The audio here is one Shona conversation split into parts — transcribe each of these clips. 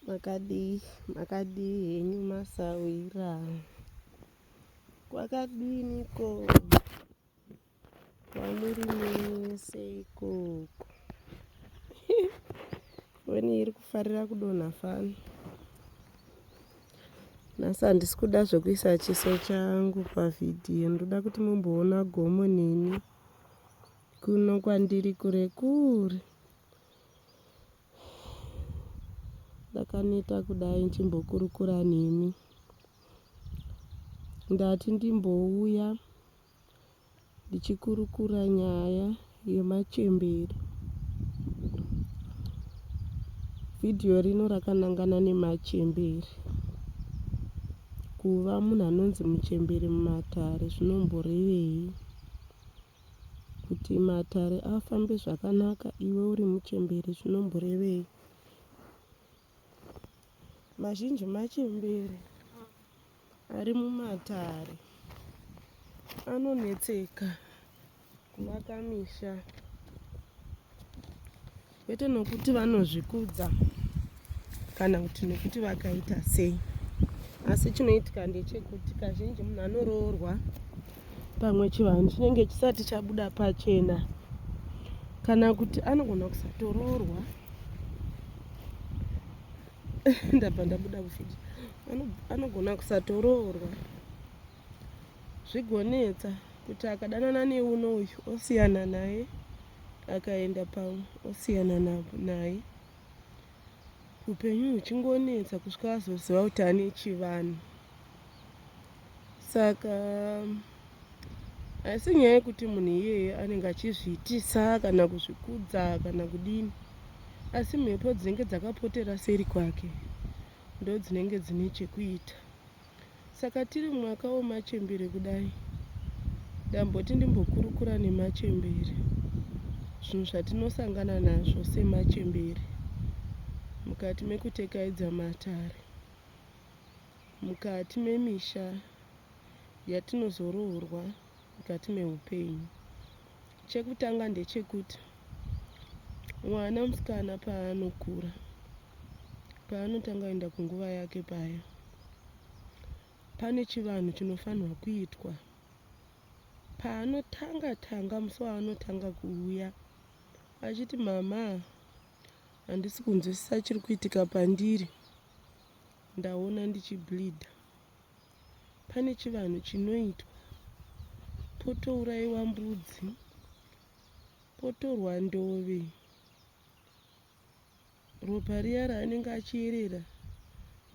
makadii makadii henyu masawira kwakadiniko Wamurimese ikoko. Weni iri kufarira kudonha fani. Nhasi handisi kuda zvekuisa chiso changu pavhidhiyo. Ndoda kuti mumboona gomo neni. Kuno kwandiri kure kure. Ndakaneta kudai ndichimbokurukura nemi. Ndati ndimbouya. ndichikurukura nyaya yemachembere. Vhidhiyo rino rakanangana nemachembere. Kuva munhu anonzi muchembere mumatare zvinomborevei? Kuti matare afambe zvakanaka iwe uri muchembere zvinomborevei? Mazhinji machembere ari mumatare anonetseka kuvaka misha kwete nokuti vanozvikudza kana kuti nokuti vakaita sei asi chinoitika ndechekuti kazhinji munhu anoroorwa pamwe chivanhu chinenge chisati chabuda pachena kana kuti anogona kusatoroorwa ndabva ndabuda kufiti anogona kusatoroorwa zvigonetsa kuti akadanana neuno uyu osiyana naye akaenda pamwe osiyana naye upenyu huchingonetsa kusvika azoziva kuti ane chivanhu saka haisi nyaya yekuti munhu iyeye anenge achizviitisa kana kuzvikudza kana kudini asi mhepo dzinenge dzakapotera seri kwake ndo dzinenge dzine chekuita saka tiri mwaka wemachembere kudai ndamboti ndimbokurukura nemachembere zvinhu zvatinosangana nazvo semachembere mukati mekutekaidza matare Mukati memisha yatinozoroorwa mukati meupenyu, chekutanga ndechekuti mwana musikana paanokura, paanotanga kuenda kunguva yake paya, pane chivanhu chinofanirwa kuitwa paanotanga tanga musi waanotanga kuuya achiti mama handisi kunzwisisa chiri kuitika pandiri Ndaona ndichi bleeder. Pane chivanhu chinoitwa potouraiwa mbudzi potorwa ndove ropa riya raanenge achiyerera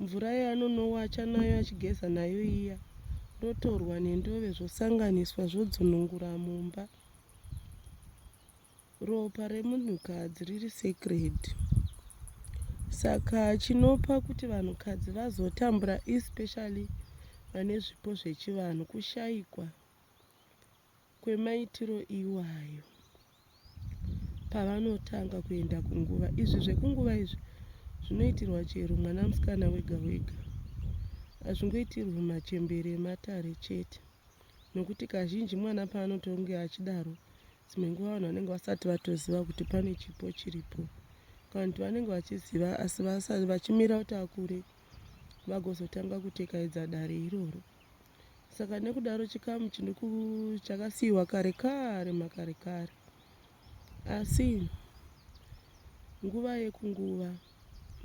mvura yaanonowacha nayo achigeza nayo iya rotorwa nendove zvosanganiswa zvodzunungura mumba Ropa remunhukadzi riri sacred. Saka chinopa kuti vanhukadzi vazotambura especially vane zvipo zvechivanhu kushaikwa kwemaitiro iwayo pavanotanga kuenda kunguva. Izvi zvekunguva izvi zvinoitirwa chero mwana musikana wega wega. Hazvingoitirwi machembere ematare chete nokuti kazhinji mwana paanotonge achidaro dzimwe nguva vanhu vanenge vasati vatoziva kuti pane chipo chiripo kanti vanenge vachiziva asi vasati vachimira kuti akure vagozotanga kutekaidza dare iroro saka nekudaro chikamu chakasiyiwa kare kare makare kare asi nguva yekunguva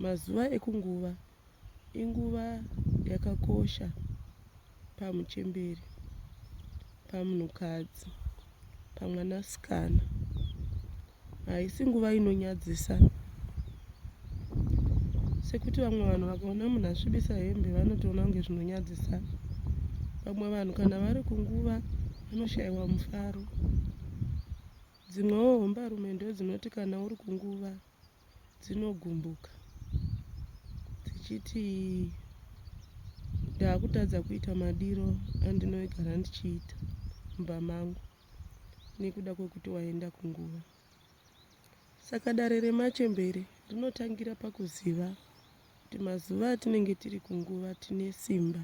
Mazuva ekunguva inguva yakakosha pamuchembere, pamunhukadzi, pamwanasikana. Haisi nguva inonyadzisa sekuti vamwe vanhu vakaona munhu asvibisa hembe vanotoona kunge zvinonyadzisa. Vamwe vanhu kana vari kunguva vanoshayiwa mufaro. Dzimwewo hombarume ndodzinoti kana uri kunguva dzinogumbuka dzichiti ndaakutadza kuita madiro andinoigara ndichiita mumba mangu nekuda kwekuti waenda kunguva saka dare remachembere rinotangira pakuziva kuti mazuva atinenge tiri kunguva tine simba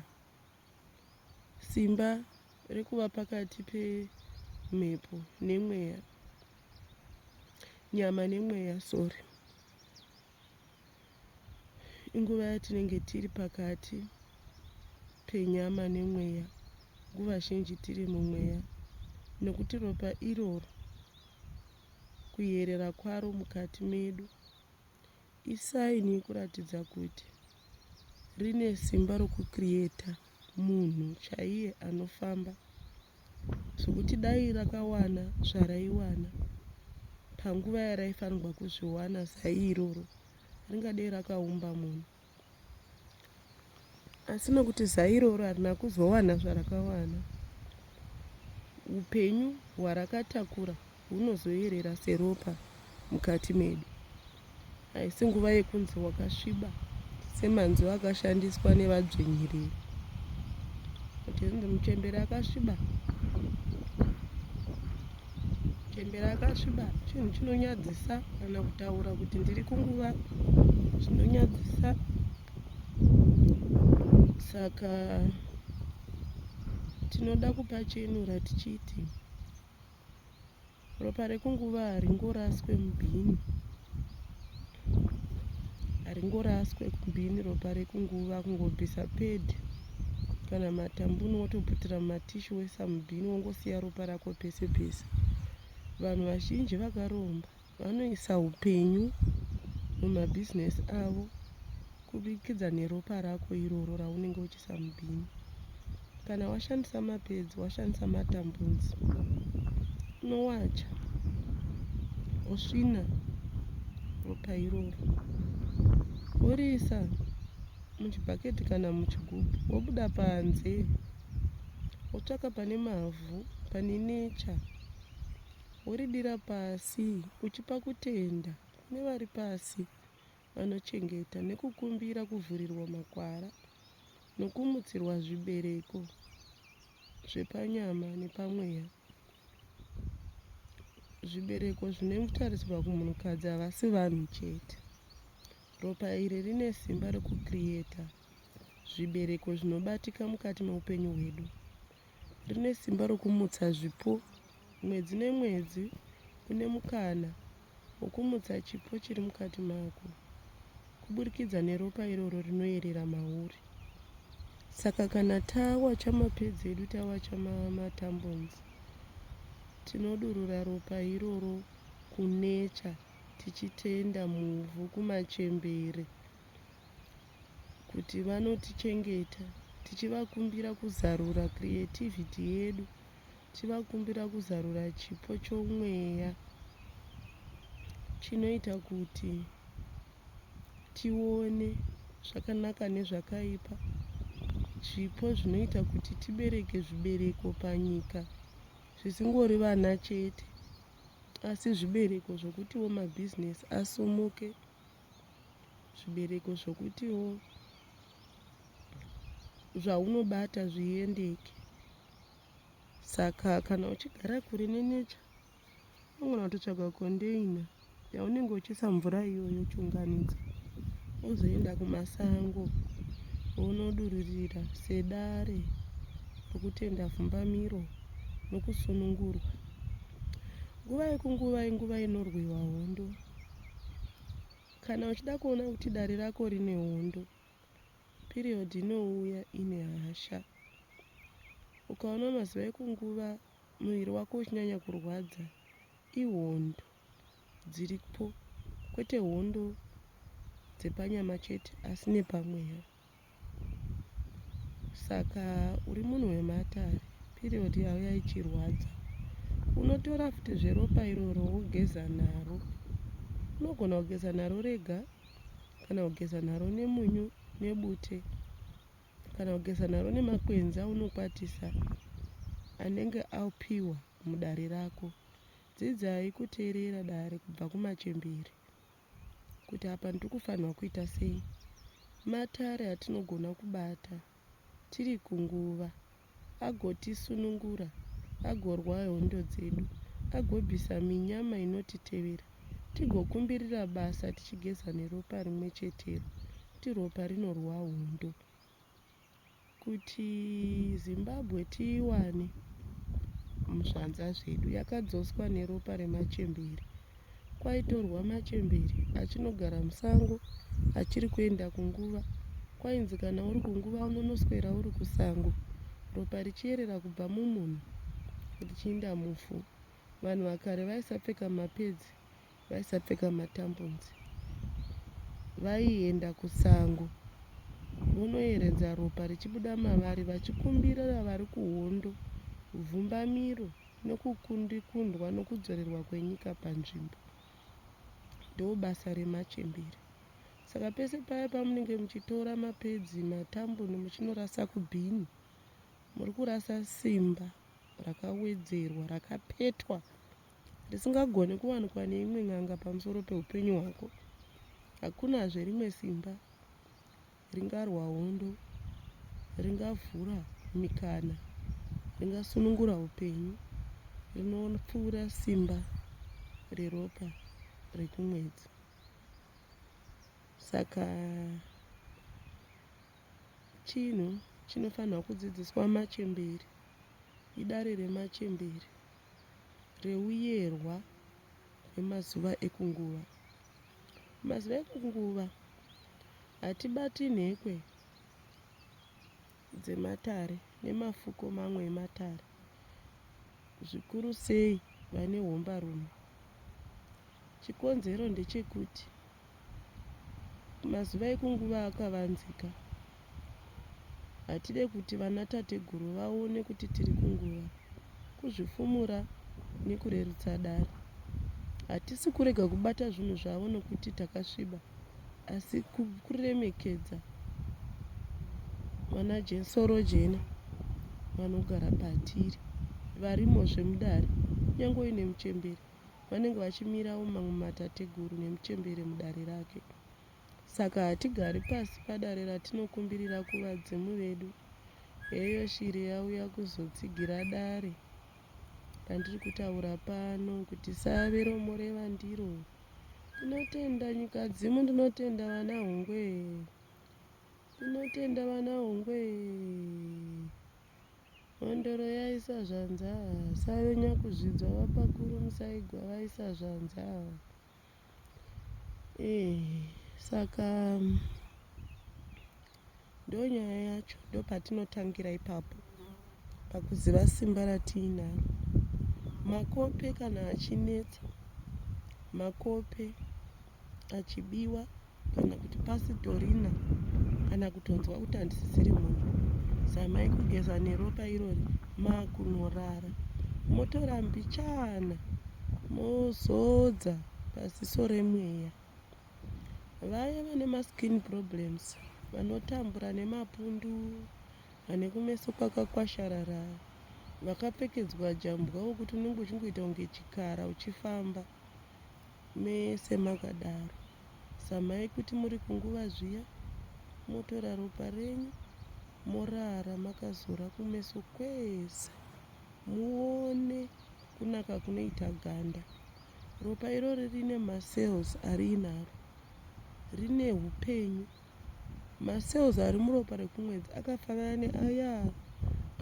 simba rekuva pakati pemhepo nemweya nyama nemweya sorry inguva yatinenge tiri pakati penyama nemweya nguva zhinji tiri mumweya nokuti ropa iroro kuyerera kwaro mukati medu Isaini yekuratidza kuti rine simba rokucreata munhu chaiye anofamba zvekuti dai rakawana zvaraiwana panguva yaraifanirwa kuzviwana zai iroro ringadei rakaumba munhu asi nokuti zai iroro harina kuzowana zvarakawana upenyu hwarakatakura hunozoyerera seropa mukati medu haisi nguva yekunzi wakasviba semanzwi akashandiswa nevadzvinyiriri kuti muchembere akasviba chembera akasviba chinhu chinonyadzisa kana kutaura kuti ndiri kunguva zvinonyadzisa saka tinoda kupa chenura tichiti ropa rekunguva haringoraswe mubhini haringoraswe kumbini ropa rekunguva kungobvisa pad kana matambuni wotoputira mumatishi wesa mubhini wongosiya ropa rako pese pese vanhu vazhinji vakaromba vanoisa upenyu mumabhizinesi avo kubikidza neropa rako iroro raunenge uchi kushandisa mubini kana washandisa mapedzi washandisa matambunzi unowacha wosvina ropa iroro woriisa muchibhaketi kana muchigubhu wobuda panze wotsvaka pane mavhu pane necha woridira pasi uchipa kutenda kune vari pasi vanochengeta nekukumbira kuvhurirwa makwara nokumutsirwa zvibereko zvepanyama nepamweya. Zvibereko zvinotaridzwa kumunhukadzi havasi vanhu chete. Ropa iri rine simba rekucreata zvibereko zvinobatika mukati meupenyu hwedu. rine simba rokumutsa zvipo mwedzi nemwedzi. Une mukana wokumutsa chipo chiri mukati mako kuburikidza neropa iroro rinoyerera mauri. Saka kana tawacha mapedzi edu, tawacha matambonzi, tinodurura ropa iroro kunecha tichitenda muvhu kumachembere. kuti vanotichengeta tichivakumbira kuzarura creativity yedu tichivakumbira kuzarura chipo chomweya chinoita kuti tione zvakanaka nezvakaipa zvipo zvinoita kuti tibereke zvibereko panyika zvisingori vana chete asi zvibereko zvokuti womabhizinesi asumuke zvibereko zvokutiwo zvaunobata zviendeke saka kana uchigara kure nenecha unogona kutotsvaga kondeina yaunenge uchiisa mvura iyoyo uchiunganidza ozoenda kumasango onodururira sedare rokutenda vhumbamiro nokusunungurwa nguva yekunguva inguva inorwiwa hondo Kana uchida kuona kuti dare rako rine hondo, period inouya ine hasha. Ukaona mazuva ekunguva muviri wako uchinyanya kurwadza, ihondo dziripo, kwete hondo dzepanyama chete asi nepamweya. Saka uri munhu wematare period yauya ichirwadza unotora futi zveropa iroro wogeza naro unogona kugeza naro rega kana kugeza naro nemunyu nebute kana kugeza naro nemakwenzi aunokwatisa anenge apiwa mudare rako dzidzai kuteerera dare kubva kumachembere kuti apa ndiri kufanirwa kuita sei. Matare atinogona kubata tiri kunguva agotisunungura, agorwa hondo dzedu, agobvisa minyama inotitevera, tigokumbirira basa tichigeza neropa rimwe chetero, kuti ropa rinorwa hondo. kuti Zimbabwe tiiwane muzvanza zvedu yakadzoswa neropa remachembere kwaitorwa machembere achinogara musango achiri kuenda kunguva kwainzi kana uri kunguva unonoswera uri kusango ropa richierera kubva mumunhu richiinda mufu vanhu vakare vaisapfeka mapedzi vaisapfeka matambonzi vaienda kusango vonoyeredza ropa richibuda mavari vachikumbirira vari kuhondo vhumbamiro nokukundikundwa nokudzorerwa kwenyika panzvimbo ndobasa remachembere saka pese paya pamunenge muchitora mapedzi matamboni muchinorasa kubhini muri kurasa simba rakawedzerwa rakapetwa risingagoni kuwanikwa neimwe n'anga pamusoro peupenyu hwako. Hakunazve rimwe simba ringarwa hondo, ringavhura mikana, ringasunungura upenyu, rinopfuura simba reropa rekumwedzi. Saka chinhu chinofanirwa kudzidziswa machemberi idare remachemberi. reuyerwa remazuva ekunguva. Mazuva ekunguva hatibati nhekwe dzematare nemafuko mamwe ematare zvikuru sei vane hombarume. Chikonzero ndechekuti. Mazuva ekunguva akavanzika. Hatide kuti vanatateguru vaone kuti tiri kunguva. Kuzvifumura nekurerutsa dare. Hatisi kurega kubata zvinhu zvavo nokuti takasviba, asi kuremekedza vanajensorojena vanogara patiri, varimozve mudare, kunyange uine muchembere. vanenge vachimirawo mamwe matateguru nemuchembere mudare rake. Saka hatigari pasi padare ratinokumbirira kuvadzimu vedu. Heyo shiri yauya kuzotsigira dare randiri kutaura pano kuti save romoreva ndiro. Tinotenda nyika dzimu, ndinotenda vana hungwe. Tinotenda vana hungwe. Mhondoro yaisa zvanzi ava save nyakuzvidzwa vapakuru musaigwa vaisa zvanzi ava ee saka ndonyaya yacho ndopatinotangira ipapo pakuziva simba ratiinaro makope kana achinetsa makope achibiwa kana kuti pasitorina kana kutonzwa kuti handisisiri munhu zamai kugeza neropa irori makunorara motora mbichana mozodza paziso remweya vaye vane maskin problems vanotambura nemapundu vane kumeso kwakakwasharara vakapfekedzwa jambwa wokuti unenge uchingoita kunge chikara uchifamba Mese makadaro zamai kuti muri kunguva zviya motora ropa renyu morara makazora kumeso kwese muone kunaka kunoita ganda. Ropa irori rine macells ariinaro rine upenyu Macells ari muropa rekumwedzi akafanana neaya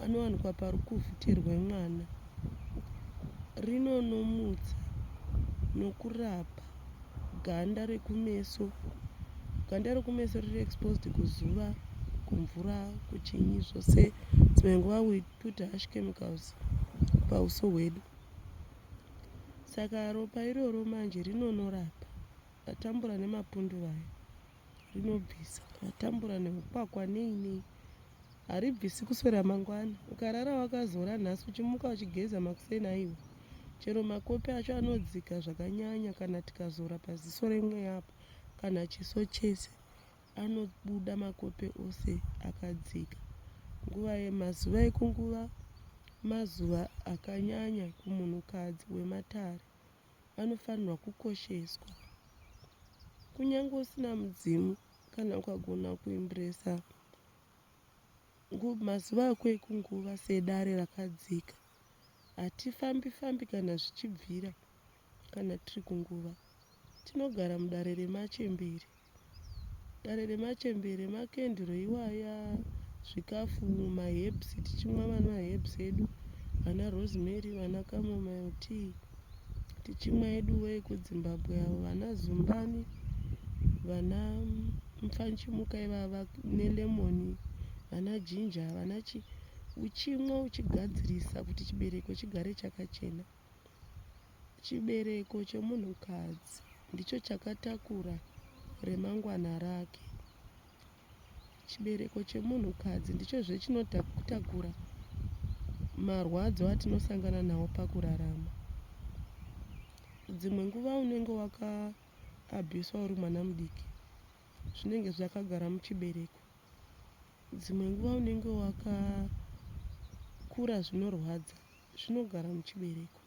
anowanikwa parikuvhutirwe mwana. Rinonomutsa nokurapa ganda rekumeso. Ganda rekumeso riri exposed kuzuva, kumvura, kuchinyi zvose. Dzimwe nguva we put harsh chemicals pauso hwedu. Saka ropa iroro manje rinonorapa. Atambura nemapundu vaya rinobvisa atambura neukwakwa nei nei haribvisi kuswera mangwana ukarara wakazora nhasi uchimuka uchigeza makuseni aiwa chero makopi acho anodzika zvakanyanya kana tikazora paziso remweya apo kana chiso chese anobuda makope ose akadzika nguva yemazuva ekunguva mazuva akanyanya kumunhukadzi wematare vanofanirwa kukosheswa. Kunyange usina mudzimu kana ukagona kuimbresa mazuva ako ekunguva sedare rakadzika hatifambi fambi kana zvichibvira kana tiri kunguva tinogara mudare remachembere Dare remachembere makenduru iwaya zvikafu ma herbs tichimwa ma herbs edu ana rosemary ana chamomile tea tichimwa edu ekudzimbabwe avo vana zumbani vana mupfanyichimuka ivava ne lemon vana ginger vana chii uchimwa uchigadzirisa kuti chibereko chigare chakachena. Chibereko chemunhukadzi ndicho chakatakura remangwana rake. Chibereko chemunhukadzi ndichozve chinotakura marwadzo atinosangana nawo pakurarama. Dzimwe nguva unenge wakaabhiswa uri mwana mudiki, zvinenge zvakagara muchibereko. Dzimwe nguva unenge wakakura zvinorwadza. zvinogara muchibereko.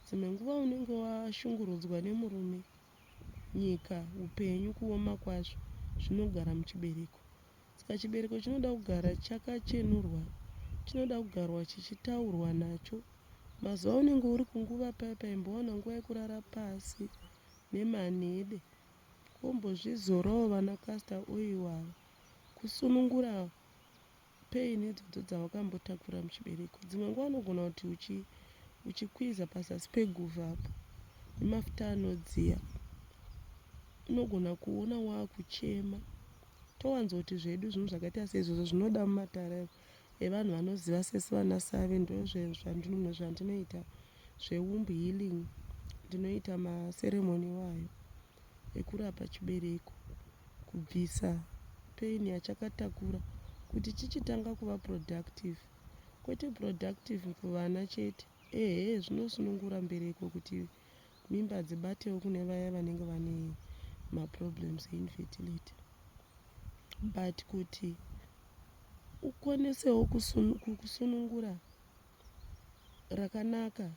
Dzimwe nguva unenge washungurudzwa nemurume, nyika, upenyu, kuoma kwazvo, zvinogara muchibereko. Saka chibereko chinoda kugara chakachenurwa, chinoda kugarwa chichitaurwa nacho. Mazuva aunenge uri kunguva paya paya imbowana nguva yekurara pasi nemanhede kombozvizorawo vana castor oil ava kusunungura Pain idzodzo dzawakambotakura muchibereko dzimwe nguva unogona kuti uchi uchikwiza pazasi peguva apo nemafuta anodziya unogona kuona wakuchema towanza kuti zvedu zvinhu zvakaita seizvozvo zvinoda mumatare evanhu vanoziva sesi vana save ndozvandinome zvandinoita zveumb healing ndinoita maseremoni iwayo ekurapa chibereko, kubvisa pain yachakatakura kuti chichitanga kuva productive kwete productive kuvana chete ehe zvinosunungura mbereko kuti mimba dzibatewo kune vaya vanenge vane maproblems einfertility but kuti ukwanisewo kusunungura rakanaka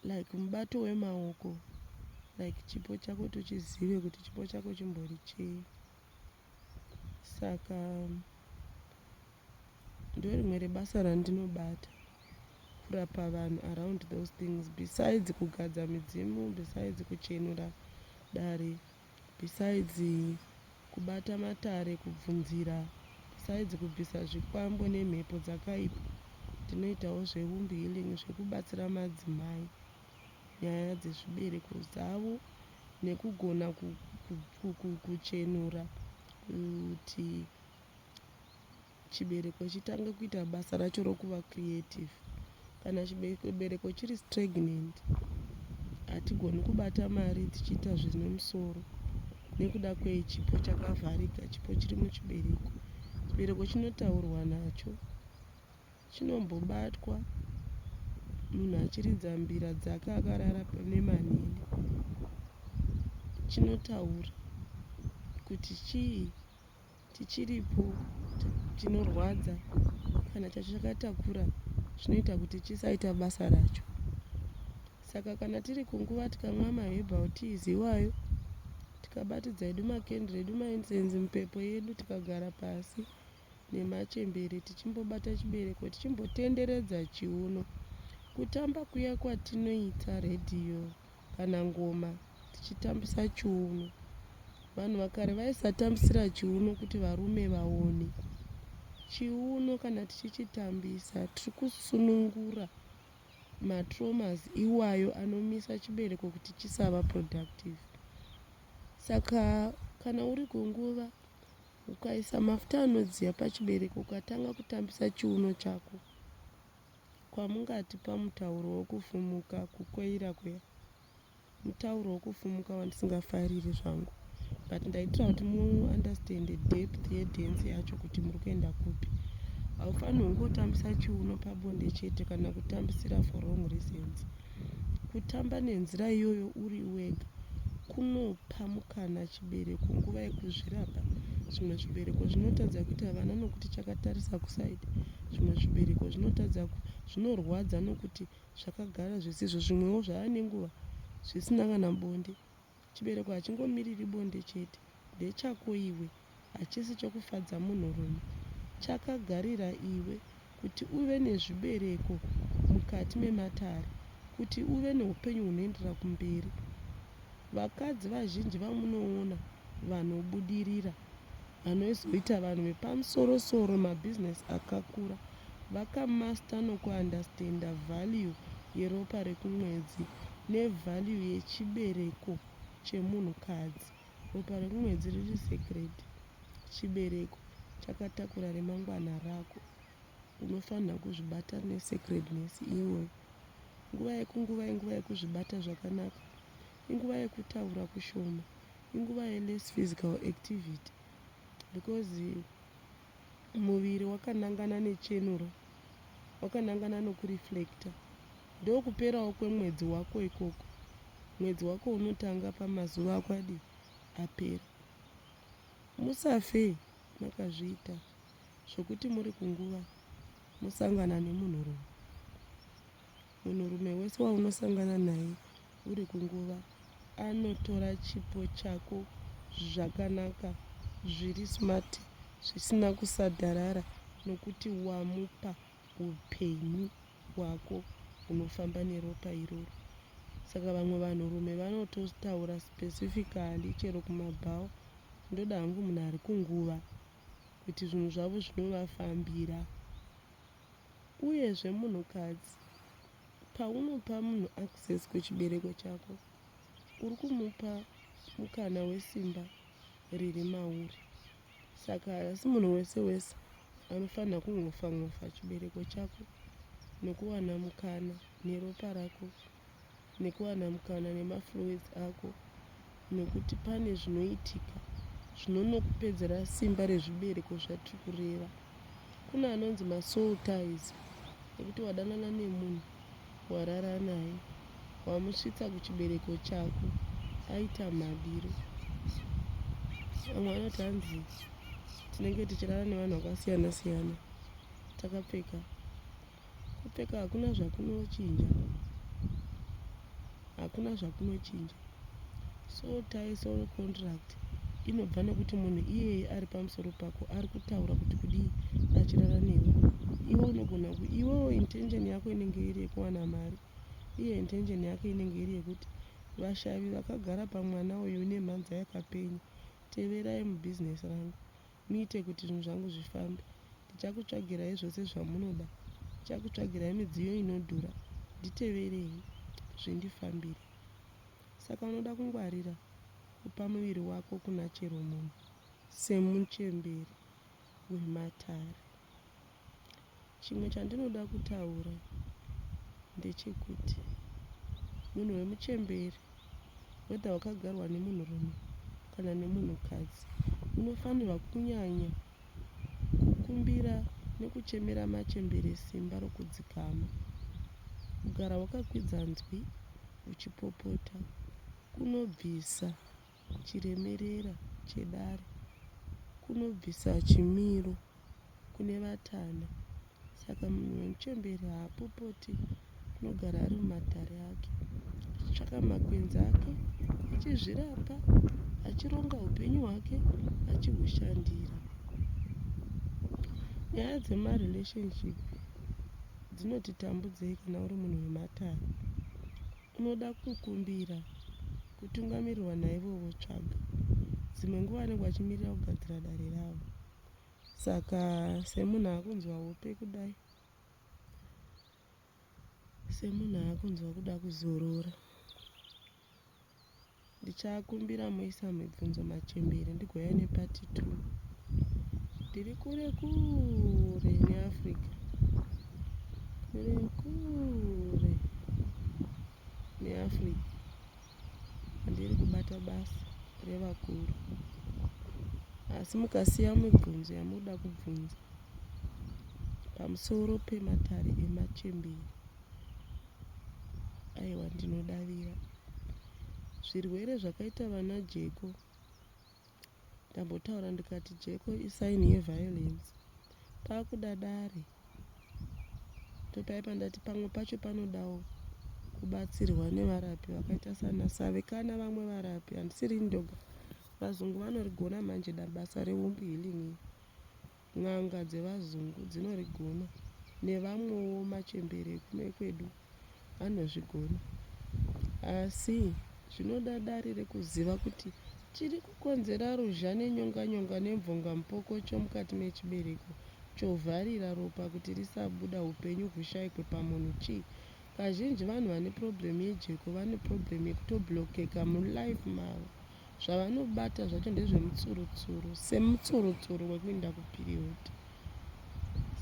like mubato wemaoko like chipo chako tochizive kuti chipo chako chimbori chei saka ndorimwe rebasa randinobata kurapa vanhu around those things besides kugadza midzimu besides kuchenura dare Besides kubata matare, kubvunzira, besides kubvisa zvikwambo nemhepo dzakaipa, tinoitawo zveWomb Healing zvekubatsira madzimai nyaya dzezvibereko dzavo nekugona kuchenura kuti chibereko chitange kuita basa racho rokuva creative kana chibereko chiri stragnant hatigoni kubata mari tichiita zvine musoro nekuda kwei chipo chakavharika chipo chiri muchibereko chibereko chinotaurwa nacho chinombobatwa munhu achiridza mbira dzake akarara pane manini chinotaura kuti chii Tichiripo, chinorwadza kana chakatakura zvinoita kuti chisaita basa racho. Saka kana tiri kunguva tikamwa maherbal teas iwayo, tikabatidza edu makendri edu maincense mupepo yedu, tikagara pasi nemachembere tichimbobata chibereko tichimbotenderedza chiuno, kutamba kuya kwatinoita radio. kana ngoma tichitambisa chiuno. Vanhu vakare vaisatambisira chiuno kuti varume vaone. Chiuno kana tichichitambisa tiri kusunungura matromas iwayo anomisa chibereko kuti chisava productive. Saka kana uri kunguva ukaisa mafuta anodziya pachibereko ukatanga kutambisa chiuno chako Kwamungati pamutauro wokufumuka kukoira kuya mutauro wokufumuka wandisingafariri zvangu but ndaitira kuti muunderstande depth yedance yacho kuti muri kuenda kupi haufanirwi kungotambisa chiuno pabonde chete kana kutambisira for wrong reasons Kutamba nenzira iyoyo uri wega kunopa mukana chibereko nguva yekuzvirapa. Zvimwe zvibereko zvinotadza kuita vana nokuti chakatarisa kusaidi. Zvimwe zvibereko zvinotadza zvinorwadza nokuti zvakagara zvisizvo. Zvimwewo zvava nenguva zvisina kana bonde. Chibereko hachingomiriri bonde chete. Ndechako iwe. Hachisi chokufadza munhurume. Chakagarira iwe kuti uve nezvibereko mukati mematare, kuti uve neupenyu hunoenderera kumberi. Vakadzi vazhinji vamunoona vanobudirira vanozoita vanhu vepamusoro soro mabusiness akakura vakamaster nokuunderstander value yeropa rekumwedzi nevalue yechibereko chemunhukadzi. Ropa rekumwedzi riri sacred. Chibereko chakatakura remangwana rako. Unofanira kuzvibata nesacredness iyoyo. Nguva yekunguva inguva yekuzvibata zvakanaka. Inguva yekutaura kushoma. inguva yeless physical activity because muviri wakanangana nechenuro wakanangana nokureflecta ndokuperawo kwemwedzi wako ikoko mwedzi wako unotanga pamazuva ako adi apera musafe makazviita zvokuti muri kunguva musangana nemunhurume Munhurume wese waunosangana naye uri kunguva anotora chipo chako zvakanaka zviri smart zvisina kusadharara nokuti wamupa upenyu hwako hunofamba neropa iroro. Saka vamwe vanhurume vanototaura specifically chero kumabhawa ndoda hangu munhu ari kunguva kuti zvinhu zvavo zvinovafambira Uyezve munhukadzi, paunopa munhu access kuchibereko chako, uri kumupa mukana wesimba riri mauri. Saka haasi munhu wese wese anofanira kungofa ngofa chibereko chako nokuwana mukana neropa rako. nekuwana mukana nemaflowers ako nekuti pane zvinoitika zvinonokupedzera simba rezvibereko zvatiri kureva kune anonzi masoul ties ekuti wadanana nemunhu warara naye wamusvitsa kuchibereko chako aita madiro vamwe vanoti hanzi tinenge tichirara nevanhu vakasiyana siyana takapfeka Kupfeka hakuna zvakunochinja. Hakuna zvakunochinja. So tie soul contract inobva nekuti munhu iyeye ari pamusoro pako ari kutaura kuti kudii achirara newe. Iwe unogona ku iwewo intention yako inenge iri yekuwana mari. Iye intention yake inenge iri yekuti vashavi vakagara pamwana uyu nemhanza yakapenya teverai mubusiness rangu. Muite kuti zvinhu zvangu zvifambe. Ndichakutsvagirai zvose zvamunoda. Ndichakutsvagirai midziyo inodhura. Nditeverei, zvindifambire. Saka unoda kungwarira kupa muviri wako kuna chero munhu, semuchemberi wematare. Chimwe chandinoda kutaura ndechekuti munhu wemuchembere whether wakagarwa nemunhurume kana nemunhukadzi unofanirwa kunyanya kukumbira nekuchemera machembere simba rokudzikama. Kugara wakakwidza nzwi uchipopota kunobvisa chiremerera chedare kunobvisa chimiro kune vatana saka munhu wemuchembere haapopoti anogara ari mumatare ake achitsvaka makwenzi ake achizvirapa achironga upenyu hwake achihushandira nyaya dzemarelationship dzinotitambudzei kana uri munhu wematare Unoda kukumbira kutungamirirwa naivovo tsvaga. Dzimwe nguva vanenge vachimirira kugadzira dare ravo. Saka semunhu akunzwa hope kudai, semunhu akunzwa kuda kuzorora. Ndichakumbira moisa mibvunzo machembere ndigouya nepati two. Ndiri kure kure neAfrica. Kure kure neAfrica. Handiri kubata basa revakuru. Asi mukasiya mibvunzo yamunoda kubvunza pamusoro pematare emachembere. Aiwa ndinodavira zvirwere zvakaita vana jeko ndambotaura ndikati jeko isaini yeviolence pakuda dare ndopaipa ndati pamwe pacho panodawo kubatsirwa nevarapi vakaita sana save kana vamwe varapi handisiri ndoga vazungu vanorigona manje dabasa reumbi healing N'anga dzevazungu dzinorigona nevamwewo machembere ekuno ekwedu anozvigona asi zvinoda dare rekuziva kuti chiri kukonzera ruzha nenyonganyonga nemvongamupokocho mukati mechibereko chovharira ropa kuti risabuda upenyu hushaikwe pamunhu chii. Kazhinji vanhu vane problem yejeko vane problem yekutoblockeka mulife mavo. zvavanobata zvacho ndezvemutsurutsuru semutsurutsuru wekuinda kupiriyodhi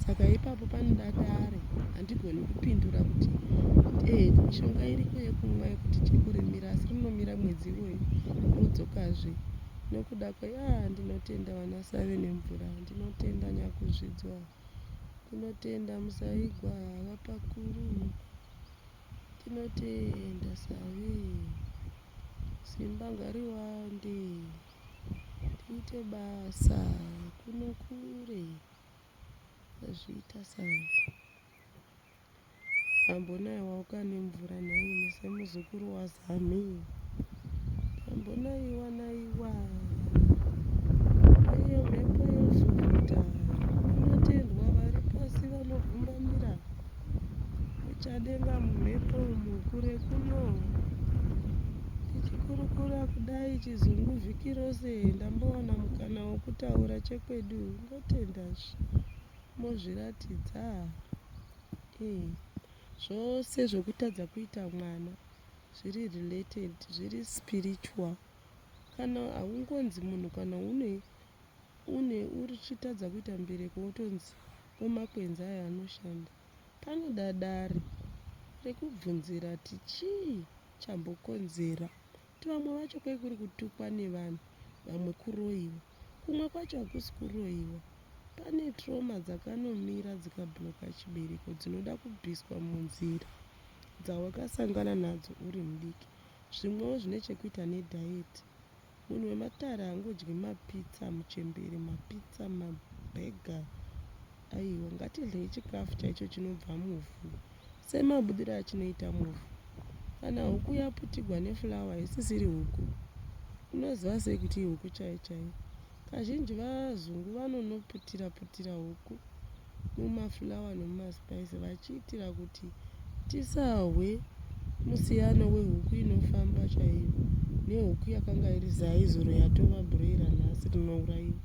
saka ipapo panoda dare handigoni kupindura kuti ee mishonga iriko yekumwa yekuti chekurimira asi rinomira mwedzi iwoyo rodzokazve nokuda kwei a ah, ndinotenda vana save nemvura ndinotenda nyakuzvidzwa ndinotenda musaigwa vapakuru Tinotenda Savi. Simba ngariwande. Tiite basa kuno kure. Azviita Savi. Ambonaye wauka nemvura nhaimi semuzukuru waza. Ami. Tambonaiwa naiwa. Iyo mhepo yozuvita. Vanotendwa vari pasi vanogumbamira. Uchadenga mumhepo umu kure kuno. Tichikurukura kudai chizungu vhiki rose ndambowana mukana wokutaura chekwedu ndotenda mozviratidza. Eh. Zvose zvokutadza kuita mwana. zviri related zviri spiritual kana haungonzi munhu kana une une uchitadza kuita mbereko wotonzi wemakwenzi ayo anoshanda panoda dare rekubvunzira ti chii chambokonzera ti vamwe vacho kwekuri kutukwa nevanhu vamwe kuroyiwa Kumwe kwacho hakusi kuroyiwa. Pane trauma dzakanomira dzikabloka chibereko dzinoda kubviswa munzira dzawakasangana nadzo uri mudiki. Zvimwewo zvine chekuita nediet. Munhu wematare haangodyi mapizza, muchembere, mapizza, mabhega, Aiwa, ngatidyei chikafu chaicho chinobva muvhu, semabudiro achinoita muvhu. Kana huku yaputigwa nefulawa isisiri huku, unoziva sei kuti ihuku chaiyo chaiyo? Kazhinji vazungu vanonoputira-putira huku mumafulawa nomumaspaisi vachiitira kuti Tisahwe musiyano wehuku inofamba chaiyo nehuku yakanga iri zai zuro yatova broiler nhasi rinourayiwa.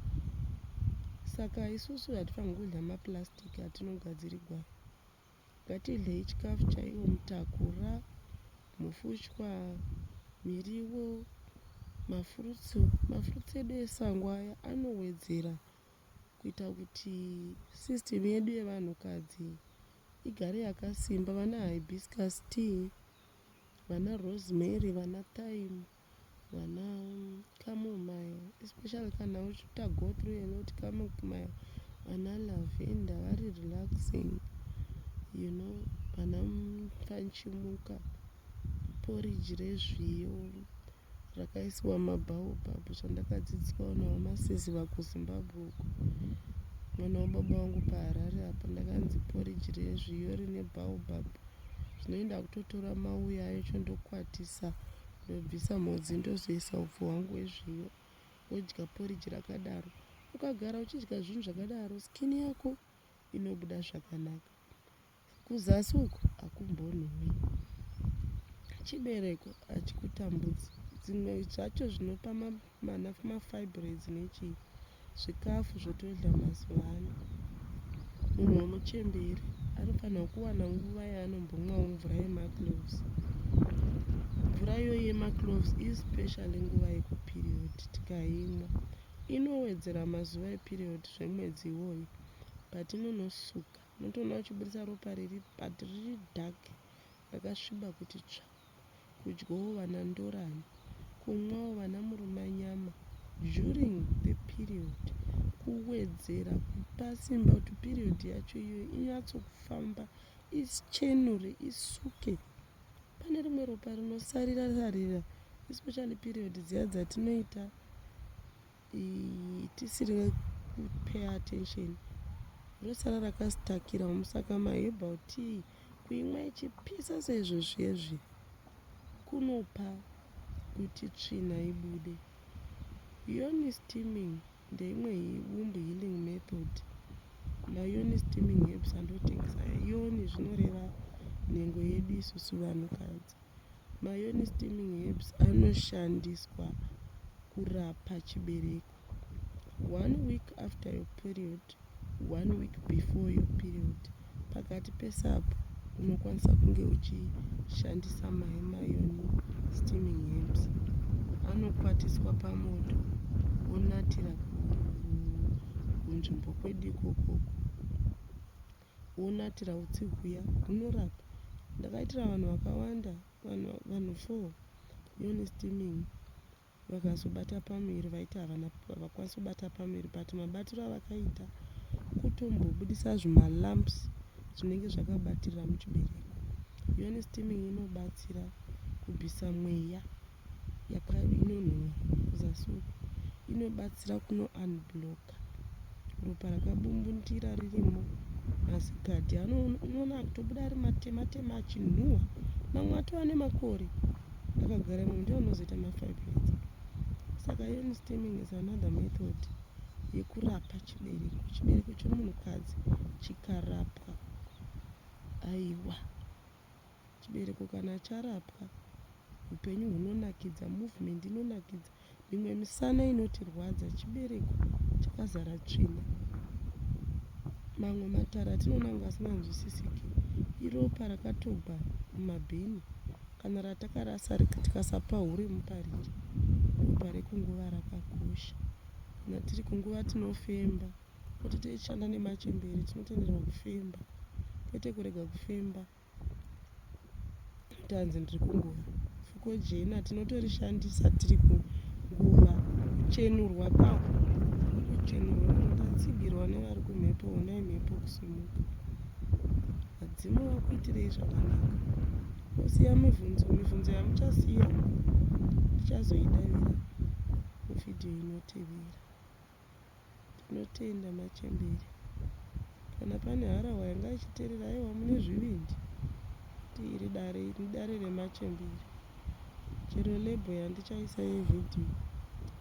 Saka isusu hatifanirwi kudya maplastic atinogadzirirwa. Ngatidyei chikafu chaiwo mutakura, mufushwa, miriwo, mafurutsu. Mafurutsu edu esango aya anowedzera kuita kuti system yedu yevanhukadzi igare yakasimba vana hibiscus tea vana rosemary vana time vana camomile especially kana uchiita go through alot camomile vana lavenda vari relaxing you know vana fanchimuka poriji rezviyo zvakaiswa mabaobab zvandakadzidziswa vanhu vamasiziva kuzimbabwe uko mwana wababa vangu paharare apa ndakanzi poriji rezviyo rine baobab zvinoi ndakutotora mauya ayo cho ndokwatisa ndobvisa mhodzi ndozoisa upfu hwangu hwezviyo wodya poriji rakadaro ukagara uchidya zvinhu zvakadaro skini yako inobuda zvakanaka Kuzasi uko hakumbonhuwi. Chibereko hachikutambudzi. Dzimwe zvacho zvinopa mana mafibroids nechii. Zvikafu zvotodya mazuva ano. Munhu wemuchembere anofanirwa kuwana nguva yaanombomwawo mvura yemacloves. Mvura iyoyo yemacloves ispecially nguva yekuperiod tikaimwa inowedzera mazuva eperiod zvemwedzi iwoyo patinonosuka Unotoona vachiburitsa ropa riri but riri dark rakasviba kuti tsva. Kudyawo vana ndorani. Kumwawo vana murumanyama during the period kuwedzera kupa simba kuti period yacho iyoyo inyatsokufamba ichenure isuke. Pane rimwe ropa rinosarira sarira especially period dziya dzatinoita tisiri kupay attention rosara rakasitakira musaka maherbal tea kuimwa ichipisa seizvo zvezvi kunopa kuti tsvina ibude yoni steaming ndeimwe womb healing method mayoni steaming herbs andotengesa yoni zvinoreva nhengo yedu isusu vanhukadzi Mayoni steaming herbs anoshandiswa kurapa chibereko. One week after your period, one week before your period. Pakati pesapo unokwanisa kunge uchishandisa mai mayoni steaming herbs. Anokwatiswa pamoto onatira kunzvimbo kwedu ikokoko. wonatira utsi huya hunorapa ndakaitira vanhu vakawanda vanhu vanhu four yoni steaming vakazobata pamuviri vaiti havana havakwanisi kubata pamuviri but mabatiro avakaita kutombobudisa zvimalumps zvinenge zvakabatirira muchibereko yoni steaming inobatsira kubvisa mweya inonhuwa kuzasi uku inobatsira kuno unbloka ropa rakabumbundira ririmo mazigadhi anoona akutobuda ari matema tema achinhuwa mamwe atova nemakore akagara imwe ndiwo anozoita mafibroids saka iron stemming is another method yekurapa chibereko chibereko chemunhukadzi chikarapwa aiwa Chibereko kana charapwa hupenyu hunonakidza, movement inonakidza. Mimwe misana inotirwadza chibereko chakazara tsvina. Mamwe matara atinoona kunge asinganzwisisiki iropa rakatogwa mumabhini kana ratakarasa tikasapa hure mupariki. Ropa rekunguva rakakosha. Kana tiri kunguva tinofemba kuti tichishanda nemachembere tinotenderwa kufemba kwete kurega kufemba. Tanzi ndiri kunguva. Fuko jena tinotorishandisa tiri kunguva kuchenurwa kwaho. Kuchenurwa tatsigirwa nevari kumhepo honai mhepo kusimuka. Vadzimu vakuitirei zvakanaka. Kusiya mibvunzo mibvunzo yamuchasiya tichazoidavira mufidhiyo inotevera. Tinotenda machembere. Kana pane harahwa yanga ichiterera aiwa mune zvivindi kuti iri dare iri idare remachembere. Chero label yandichaisa yevideo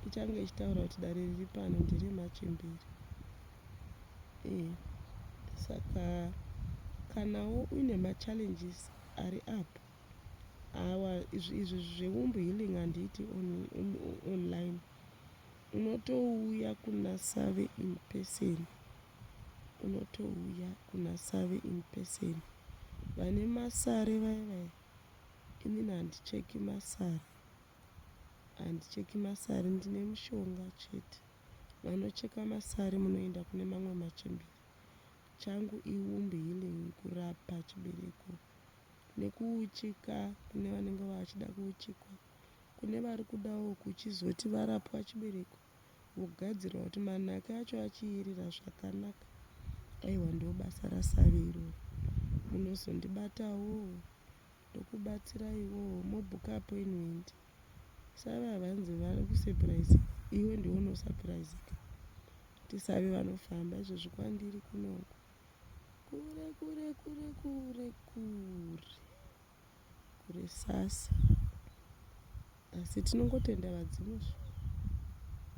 ichange ichitaura kuti dare riri pano ndere machembere. Eh, saka kanawo uine machallenges ari up awa izvi izvi zveumbu healing handiiti on, on, online Unotouya kuna Save in person. Unotouya kuna Save in person. Vane masare vaya vaya. Inini handicheki masare. Handicheki masare ndine mushonga chete. Vanocheka masare munoenda kune mamwe machembere. Changu iwomb healing kurapa chibereko nekuuchika kune vanenge vachida kuuchikwa. Kune vari kudawo kuchizoti varapwa chibereko vogadzirwa kuti manhaka acho achiirira zvakanaka. Aiwa ndobasa rasavi iroro. Munozondibatawo ndokubatsiraiwo mobhuka appointment. Savi ava hanzi vari kusurprise iwe ndiwe unosurpriseka. Kuti savi vanofamba izvozvi kwandiri kunoku. Kure kure kure kure kure. kurisasa asi tinongotenda vadzimu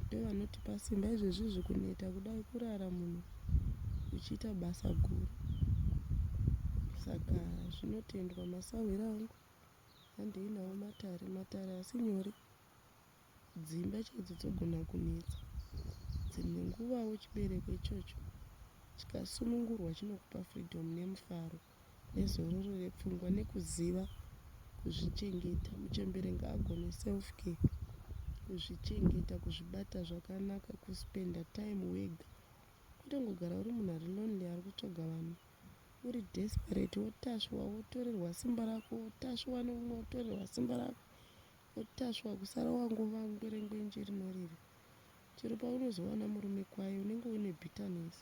ndovanotipa simba izvezvi zvikuneta kudai kurara munhu uchiita basa guru saka zvinotendwa masahwira angu handei nawo matare matare asi nyore dzimba chaidzo dzogona kunetsa dzimwe nguvawo chibereko ichocho chikasunungurwa chinokupa freedom nemufaro nezororo repfungwa nekuziva kuzvichengeta. Muchembere ngaagone self care, kuzvichengeta, kuzvibata zvakanaka, kuspenda time wega kwete kungogara uri munhu ari lonely ari kutsvaga vanhu uri desperate wotasviwa wotorerwa simba rako wotasviwa neumwe wotorerwa simba rako wotasviwa kusara wangova ngwerengwenje rinorira chero paunozowana murume kwaye unenge une bitterness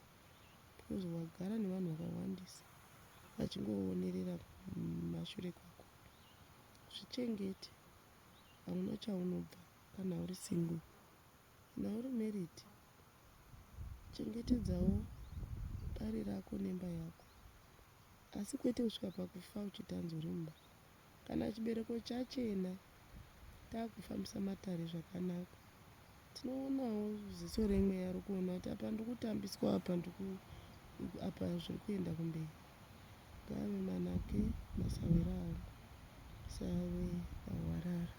because wagara nevanhu vakawandisa vachingoonerera kumashure kwako zvichengete hauna chaunobva kana uri single kana uri married chengetedzawo dare rako nemba yako asi kwete kusvika pakufa uchitanzwa rimba Kana chibereko chachena takufambisa matare zvakanaka tinoonawo ziso remweya rikuona kuti apa ndikutambiswa apa ndiku apa zviri kuenda kumberi ngave manake masawera angu save ahwarara